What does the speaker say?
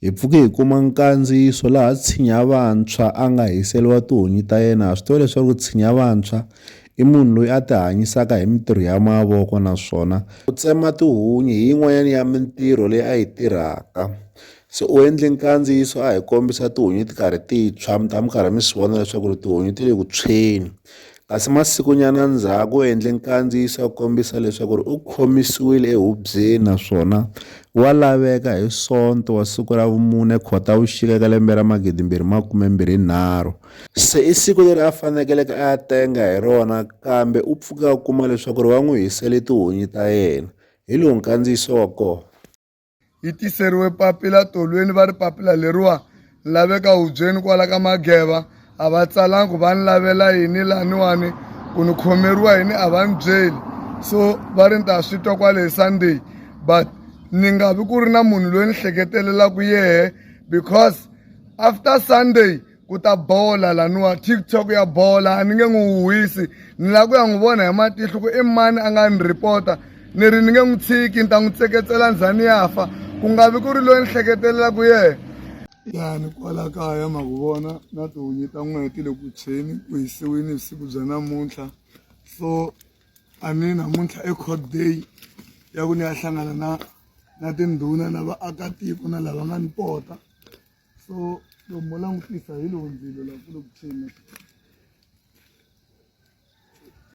Hi pfuke hi kuma nkandziyiso laha Tshinya Vantshwa a nga hiseriwa tihunyi ta yena. Ha swi tiva leswaku Tshinya Vantshwa i munhu loyi a tihanyisaka hi mintirho ya mavoko naswona ku tsema tihunyi hi yin'wanyana ya mintirho leyi a yi tirhaka. Se u endle nkandziyiso a hi kombisa tihunyi ti karhi ti tshwa mi ta mi karhi mi swi vona leswaku ri tihunyi ti le ku tshweni. Kasi masikunyana ndzhaku u endle nkandziyiso wa kombisa leswaku u khomisiwile ehubyeni naswona wa laveka hi Sonto wa siku ra vumune Khotavuxika ka lembe ra magidi mbirhi makume mbirhi nharhu. Se i siku leri a fanekeleke a ya tenga hi rona kambe u pfuke a kuma leswaku va n'wi hisele tihunyi ta yena, hi lowu nkandziyiso wa kona. yi tiseriwe papila tolweni va ri papila leriwa ni laveka hubyeni kwala ka mageva a va tsalangi ku va ni lavela yini laniwani ku ni khomeriwa yini a va ni byeli so va ri ni ta swi twa kwale hi sunday but ni nga vi ku ri na munhu loyi ni hleketelelaku yehe because after sunday ku ta bola laniwa tiktok ya bola a ni nge n'wi huhisi ni lava ku ya n'wi vona hi matihlo ku i mani a nga ni rhipota ni ri ni nge n'wi tshiki ni ta n'wi tseketsela ndzhani ya fa ku nga vi ku ri loyi ni hleketelelaku yena yani kwala kaya ma ku vona na tihunyi ta n'weti le ku tshweni ku hisiwini vusiku bya namuntlha so a ni namuntlha i court day ya ku ni ya hlangana na na tindhuna na vaakatiko na lava nga ni pota so loko mo langutisa hi lowu ndzilo laha ku le ku tshweni.